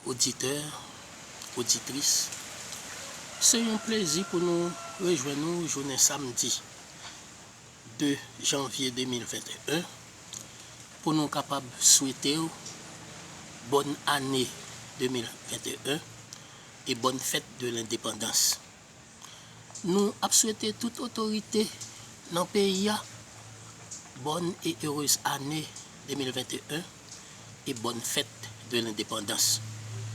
Oditè, oditris, se yon plezi pou nou rejwenn ou jounen samdi 2 janvye 2021 pou nou kapab swete ou bòn ane 2021 e bòn fèt de lendepandans Nou ap swete tout otorite nan peyi a bòn e erez ane 2021 e bòn fèt de lendepandans.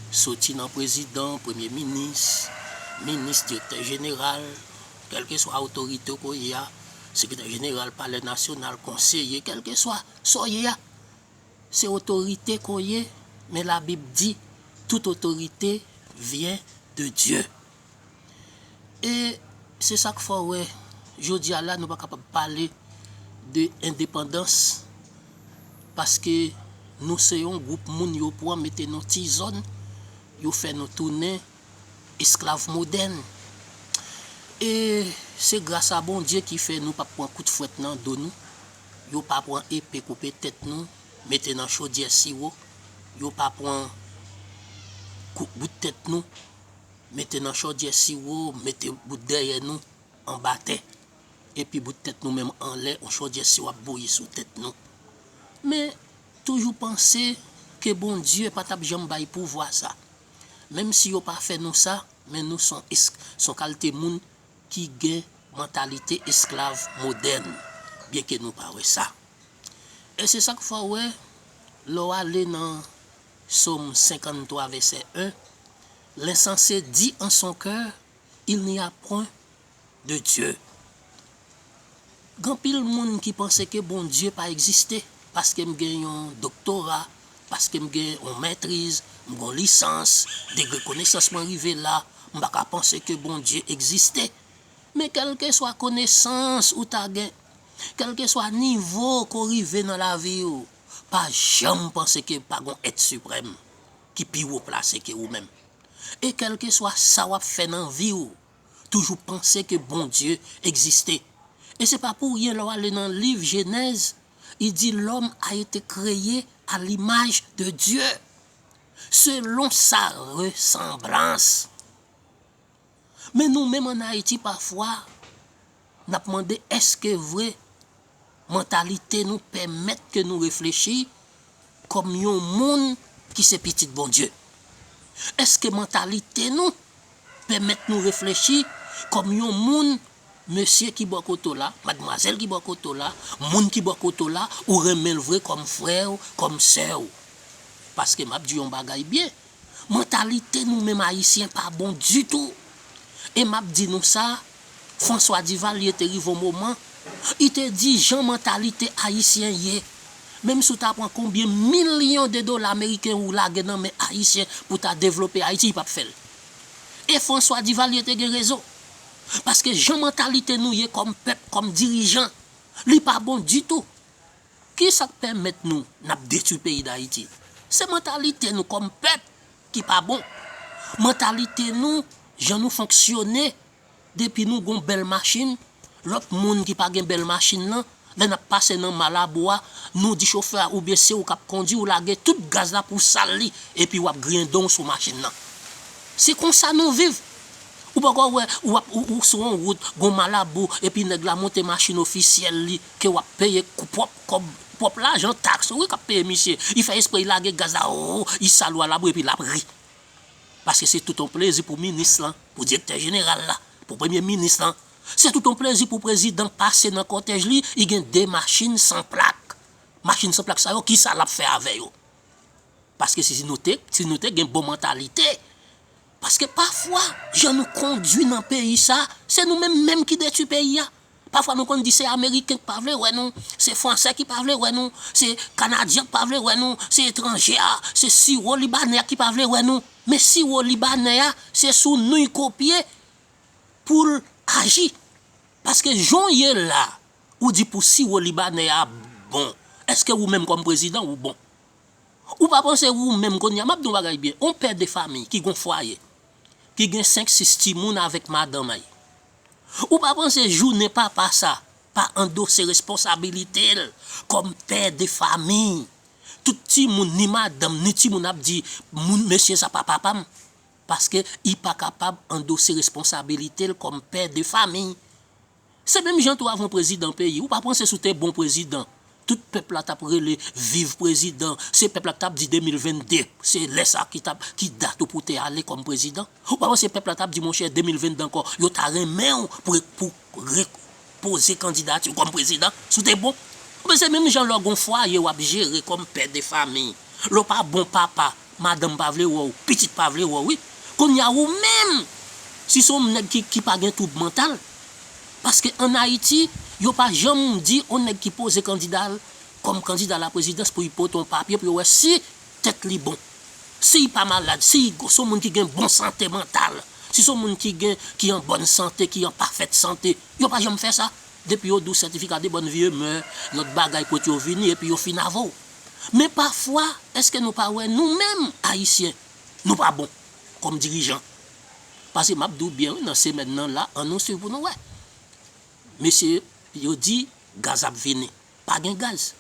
Soti nan prezidan, premye minis, minis, direktè jeneral, kèlkeswa otorite w ko ye a, sekretè jeneral palè nasyonal, konseye, kèlkeswa sa w ye a, se otorite ke w ye, men labib di tout otorite vyen de Dye. E se sa k fè w wè jodi a la nou pa kapab pale de endepandans paske nou se yon gwoup moun yo pran mete nou ti zòn, yo fè nou tounen esklav modèn. E se gras a Bondye ki fè nou pap pran kout fwèt nan do nou, yo pa pran epe koupe tèt nou mete nan chodyè siwo, yo pa pran kout bout tèt nou. mete nan chòdyè siwo mete bout dèyè nou anba tè epi bout tèt nou menm anlè yon chòdyè siwo ap bouyi sou tèt nou men toujou panse ke Bondye pa tap janm bay pouvwa sa menm si yo pa fè nou sa men nou son son kalte moun ki gen mantalite esklav modèn byenke nou pa wè sa e se sak fè w wè lè w ale nan Psaume 53 verset 1, L'insensé dit en son cœur, Il n'y a point de Dieu. Gen anpil moun ki panse ke Bondye pa egziste paske m gen yon doktora, paske m gen yon mètriz, m gen yon lisans, degre konesans mwen rive la, m pa ka panse ke Bondye egziste. Men kèlkeswa konesans ou ta gen, kèlkeswa nivo ke w rive nan lavi w, pa janm panse ke pa gon èt siprèm ki pi wo plase ke ou menm. E kèlkeswa sa wap fè nan vi ou, toujou panse ke Bondye egziste. E se pa pou ryen lè w ale nan liv Jenèz, li di lòm a ete kreye a limaj de Dye, selon sa resanblans. Men nou menm an Ayiti pafwa nap mande eske vre mantalite nou pèmèt ke nou reflechi kòm yon moun ki se pitit Bondye? Eske mantalite nou pèmèt nou reflechi kòm yon moun Mesye ki bò kote w la, madmwazèl ki bò kote w la, moun ki bò kote w la, ou renmen l vre kòm frè w, kòm sè w. Paske m ap di yon bagay byen, mantalite nou menm Ayisyen pa bon ditou. E m ap di nou sa, François Duvalier te rive yon moman, li te di jan mantalite Ayisyen ye, menm si w ta pran konbyen milyon de dola meriken ou lage nan men Ayisyen pou ta devlope Ayiti, li p ap fè l. E François Duvalier te gen rezon. paske jan mantalite nou ye kòm pèp, kòm dirijan, li pa bon ditou. Kisa k pèmèt nou n ap detwi peyi Dayiti? Se mantalite nou kòm pèp ki pa bon. Mantalite nou, jan nou fonksyone, depi nou gen yon bèl machin, lòt moun ki pa gen bèl machin lan, Lè nap pase nan malabo a nou di chofè a oubyen se ou kap kondi ou lage tout gaz la pou sal li epi wap griyen donw sou machin nan. Se konsa nou viv. Ou poko wè ou ap ou sou on wout gon malabo epi nèg la monte machin ofisyèl li ke wap peye pwòp kòb pwòp lajan taks ou wi kap peye misye li fè espre li lage gaz la ooh li sal ou a labou epi lap ri. Paske se tout on plezi pou minis lan, pou direktè jeneral la, pou premye minis lan, Se tout yon plezi pou prezidan pase nan kòtèj li, li gen 2 machin san plak. Machin san plak sa yo kisa lap fè avè yo? Paske si nou te, si nou te gen bon mantalite, paske pafwa jan nou kondwi nan peyi sa, se nou menm menm ki detwi peyi a. Pafwa nou konn di se ameriken ki pa vle wè nou, se fransè ki pa vle wè nou, se kanadyen ki pa vle wè nou, se etranje a, se siwo libanè a ki pa vle wè nou. Men siwo libanè a se sou nou y kopye. poul aji paske jan w ye la ou di pou siwo libanè a bon eske ou menm kòm prezidan ou bon ou pa panse ou menm kounya map di yon bagay byen yon pè de famiy ki gon fwaye ki gen 5 6 timoun avèk madanm ay ou pa panse jounen papa sa pa andose responsabilite l kòm pè de famiy tout timoun ni madanm ni timoun ap di moun mesye sa pa papa m paske I pa kapab andose responsabilite l kòm pè de famiy. Se menm jan tou avon prezidan peyi, ou pa panse si w te bon prezidan, tout pèp la tap rele viv prezidan, se pèp la ki tap di 2022 se lè sa ki tap, ki dat ou pou te ale kòm prezidan? Ou pa panse pèp la tap di monchè 2022 ankò yo ta renmen w pou, pou. Rick poze kandidati w kòm prezidan si w te bon. Oubyen se menm jan lè w gen yon fwaye w ap jere kòm pè de fami. Lè w pa bon papa, madanm pa vle wè w, pitit pa vle wè w wi. Kounye a ou menm, si se yon nèg ki pa gen twoub mantal, paske an Ayiti, yo pa janm di yon nèg ki poze kandida l kòm kandida a la prezidans pou l pote yon papye pou yo wè si tèt li bon. Si y pa malad, si y son moun ki gen bon sante mantal, si son moun ki gen, ki an bòn sante, ki an pafèt sante, yo pa janm fè sa. Depi yo di w sètifika de bòn vye mè, lòt bagay kote yo vini epi yo fin avè w. Men pafwa, èske nou pa wè nou menm Ayisyen, nou pa bon kòm dirijan? Pase m ap di w byen wi nan semèn nan la, an nou swiv pou nou wè. Mesye yo di gaz ap vini. pa gen gaz.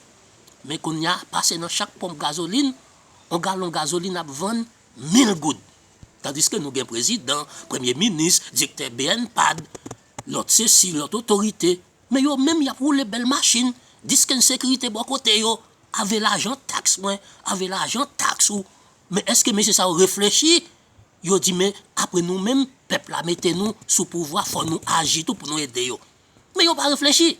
Men kounya pase nan chak ponp gazolin, on galon gazolin ap vann mil goud. Tandiske nou gen prezidan, premye minis, direktè bnpad, lòt sesi, lòt otorite, men yo menm y ap woule bèl machin, diskenn sekirite bò kote yo, ave lajan taks mwen, ave lajan taks ou. Men èske mesye sa yo reflechi? Yo di men apre nou menm pèp la mete nou sou pouvwa fò nou aji tou pou nou ede yo. Men yo pa reflechi.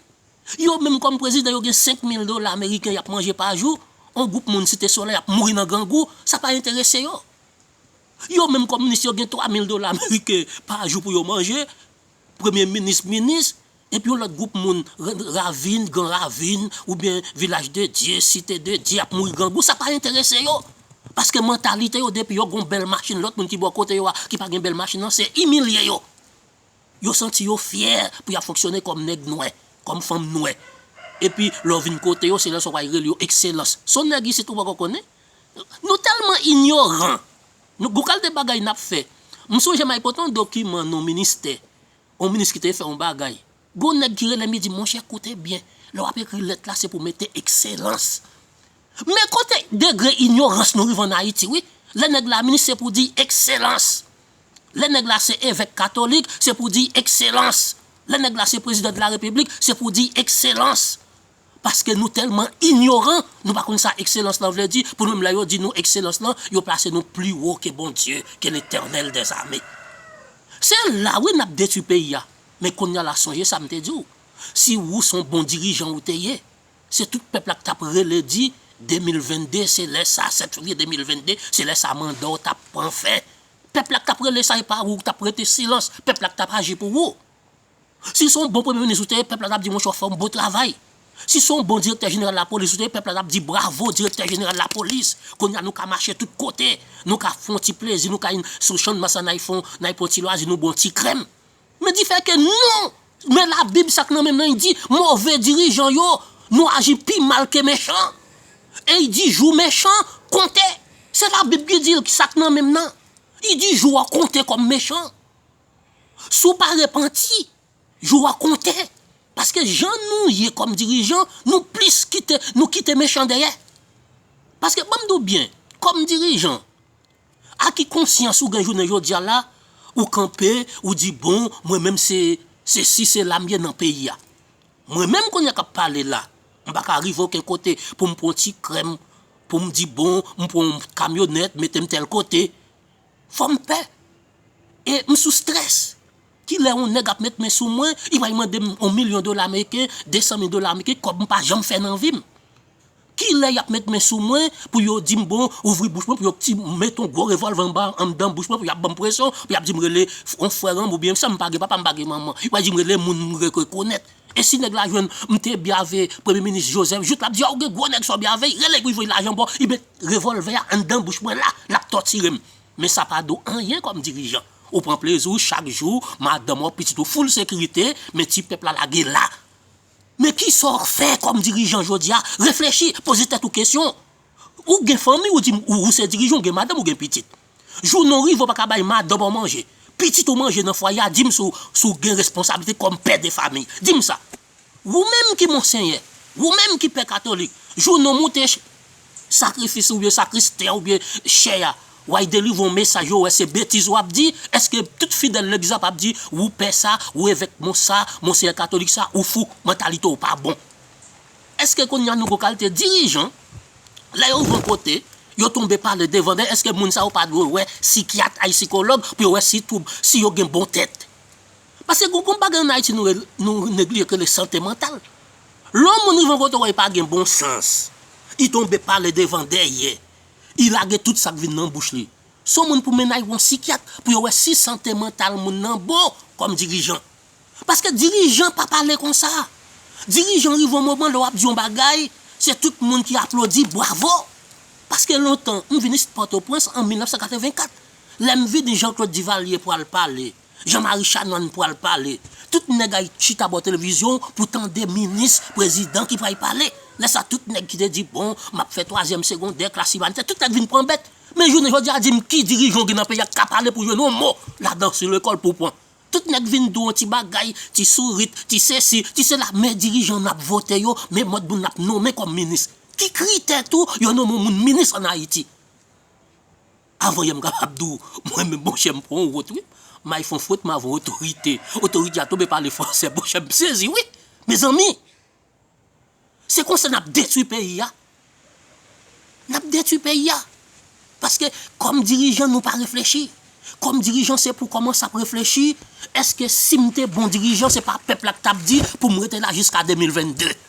Yo menm kòm prezidan yo gen 5 mil dola ameriken y ap manje pa jou, yon gwoup moun Site Solèy ap mouri nan grangou, sa pa enterese yo. Yo menm kòm minis yo gen 3 mil dola ameriken pa jou pou yo manje, premye minis, minis, epi yon lòt gwoup moun ravin, gran ravin, oubyen vilaj de Dye, site de Dye ap mouri grangou, sa pa enterese yo. Paske mantalite yo depi yo gen yon bèl machin lòt moun ki bò kote yo a ki pa gen bèl machin nan se imilye yo. Yo santi yo fyè pou y ap fonksyone kòm nèg nwè, kòm fanm nwè. Epi, lè w vin kote yo, se lè sa w pral rele yo ekselans. S on nèg isit ou poko konnen? Nou tèlman inyoran! Nou gon kalte bagay n ap fè. M sonje m al pote yon dokiman nan yon ministè, yon minis ki te fè yon bagay. Gon nèg ki rele m li di m, monchè koute byen, lè w ap ekri lèt la se pou w mete ekselans. Men kote degre inyorans nou rive an Ayiti wi, lè nèg la minis se pou di ekselans, lè nèg la se evèk katolik se pou di ekselans, lè nèg la se prezidan de la repiblik se pou di ekselans. Paske nou tèlman inyoran, nou pa konn sa ekselans lan vle di, pou nou menm lè yo di nou ekselans lan, yo plase nou pli wo ke Bondye, ke Letènèl dè zame. Se la wi nap detwi peyi a, men konnya la sonje sa m te di w, si wou son bon dirijan ou te ye, Se tout pèp la ki tap rele di 2022 se lè sa 7 fevrier 2022 se lè sa manda w tap pran fen pèp la ki tap rele sa epa ou ki tap rete silans pèp la ki tap aji pou ou si son bon premye minis ou te ye pèp la tap di monchè w fè yon bon travay si son bon direktè jeneral lapolis ou te ye pèp la tap di bravo direktè jeneral lapolis kounye a nou ka mache tout kote nou ka fon ti plezi nou ka sou chann mas la n ay fon n ay pran ti lwazi nou bwè yon ti krèm Men di fè ke non! Men labib sa k nan menm nan y di, move dirijan yo, nou aji pi mal ke mechan. E y di jou mechan konte. Se labib ki di l sa k nan menm nan. Y di jou a konte kòm mechan. Si w pa repanti, jou a konte. Paske jan nou ye kòm dirijan, nou plis kite, nou kite mechan dèyè. Paske banm di w byen, kòm dirijan, A ki konsyans ou gen jounen jodia la ou kanpe ou di bon mwen menm se se si se la m ye nan peyi a. Mwen menm kounye a k ap pale la m pa ka rive oken kote pou m pran ti krèm pou m di bon m pran yon kamyonèt mete m tèl kote fò m pè e m sou strès. Ki lè yon nèg ap met men sou mwen li pral mande m yon milyon dola ameriken, desan mil dola ameriken kòb m pa janm fè nan vi m. Kilè yap met men sou mwen pou yo dim bon ouvri bouch mwen pou yo kti met yon gwo revolve anba andan bouch mwen pou yap banm presyon pou yap dim rele yon frèranm ou byen sam pa gen papam pa gen manman yo pral dim rele moun m rekonèt e si nèg la jwenn m te byave premye minis Joseph jout lap di a ou gen gwo nèg sa w byave y rele pou y voy lajan ba w y met revolve a andan bouch mwen la lap tòtirem men sa pa do anyen kòm dirijan ou pran plezi w chak jou madanm ou pitit ou foul sekirite men ti pèp la lage la Men kisa w k fè kòm dirijan jodi a? Reflechi, poze tèt ou kesyon. Ou gen fanmi, ou di m ou se dirijan, ou gen madanm, ou gen pitit. Jou non rive ou pa ka bay madanm ou manje, pitit ou manje nan fwaye a, di m si w gen responsablite kòm pè de fami. Di m sa. Ou menm ki monsenyè, ou menm ki pè katolik, jou non moute. Sakrifis ou byen sakris tè ou byen chè a way delivre yon mesaj yo wè se betiz wap di eske tout fidèl legliz ap ap di wou pè sa wou evèk mons sa monseyè katolik sa ou fou mantalite w pa bon eske kounya nou gon kalte dirijan lè yo rive yon kote yo tonbe pale devan dèyè eske moun sa yo pa dwe wè sikyat ay sikològ pou yo wè si twoub si yo gen bon tèt. Paske gon gon bagay an Ayiti nou rele, nou neglije ki rele sante mantal. Lè yon moun rive yon kote wè li pa gen bon sans, li tonbe pale devan dèyè, li lage tout sa k vin nan bouch li. Se yon moun pou mennaj yon sikyat pou yo wè si sante mantal moun nan bon kòm dirijan. Paske dirijan pa pale konsa. Dirijan rive yon moman lè w ap di yon bagay, se tout moun ki aplodi, bwavo. Paske lontan, m vini sit Pòtoprens an 1984. Lè m vini Jean Claude Duvalier pral pale. Jean Marie Chanant pwal pale. Tout nèg ayiti chita bò televizyon pou tande minis, prezidan ki pwal pale. Lè sa tout nèg ki te di bon map fè twazyèm segondè, klas imanitè tout nèg vin pran bèt. Men jounen jodi a dim ki dirijan w gen nan peyi a ki ka pale pou jwenn yon mo ladan si lekòl pou w pran. Tout nèg vin di w yon ti bagay, ti sourit, ti sesi, ti sela men dirijan nap vote yo, men mòd moun nap nonmen kòm minis. Ki kritè tou yo nonmen yon moun minis an ayiti? Avoye m kapab di w mwen menm bon chè m pran yon wot wi. May fon fwet m avon otorite. Otorite a tonbe pale fransè bon chè m sezi wi. Mezanmi! Se konsa n ap detwi peyi a. N ap detwi peyi a. Paske kòm dirijan nou pa reflechi. Kòm dirijan se pou kòmanse ap reflechi èske si m te bon dirijan se pa pèp la k t ap di pou m rete la jiska 2022.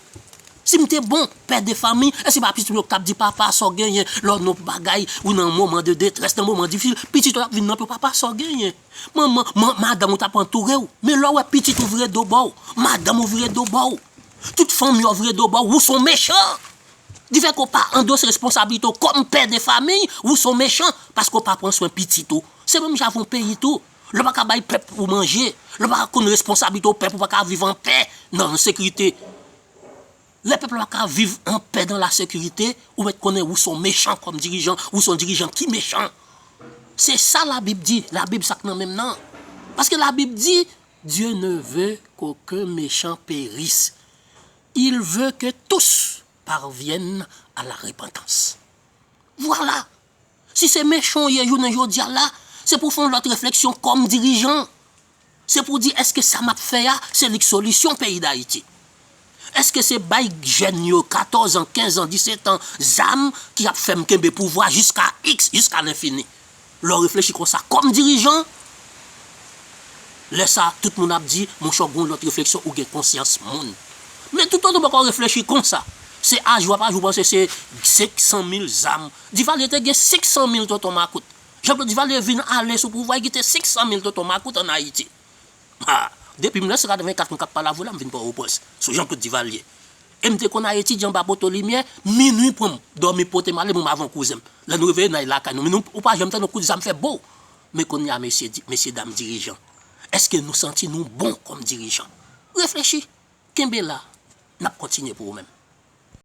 Si m te bon pè de fami, èske se pa pitit mwen yo ki t ap di, Papa, sa w genyen? Lè w nan bon bagay, ou nan moman de detrès, nan moman difisil, pitit ou yo ap vin nan pi w, Papa, sa w genyen? Manman, madanm ou t ap antoure w. Men lè w wè pitit ou vire do ba w, madanm ou vire do ba w, tout fanmi an vire do ba w, ou se yon mechan! Difèt ke w pa andose responsablite w kòm pè de fami, ou se yon mechan paske w pa pran swen pitit ou. Se menm jan avè yon peyi tou. Lè w pa ka bay pèp ou manje, lè w pa ka konn responsablite w, pèp ou pa ka viv an pè nan an sekirite. Lè pèp la pa ka viv an pè dan la sekirite, ou mèt konnen ou son mechan kòm dirijan, ou son dirijan ki mechan. Se sa labib di, labib sa k nan men m nan. Paske labib di, Dieu ne veut qu'aucun méchant périsse, il veut que tous parviennent à la repentance. Vwala! Si se mechan w ye jounen jodi a la, se pou w fè yon lòt refleksyon kòm dirijan. Se pou w di èske sa m ap fè a, se li k solisyon peyi Dayiti? Èske se bay jèn yo 14 an, 15 an, 17 an zam ki ap fè m kenbe pouvwa jiska iks, jiska lenfini? Lè w reflechi konsa kòm dirijan, Lè sa a, tout moun ap di, monchè w gen yon lòt refleksyon, ou gen konsyans moun. Men toutotan w poko reflechi konsa, se a jou a pa jou w panse se 500 mil zam. Divalye te gen 500 mil tonton makout. Janklod Divalye vin ale sou pouvwa, li kite 500 mil tonton makout an Ayiti. Ha! Depi 1984 m k ap pale avè w la, m vin Pòwoprens, sou Janklod Divalye. E m te konn al etidye anba poto limyè, minui pran m, dòmi pote m ale, mwen m avon kouzen m. Lè nou reveye, n ale lakay nou. Men ou pa janm tande yon kout zam fè bow! Men kounye a mesye di, mesye dam dirijan, èske nou santi nou bon kòm dirijan? Reflechi! Kenbe la, n ap kontinye pou ou menm.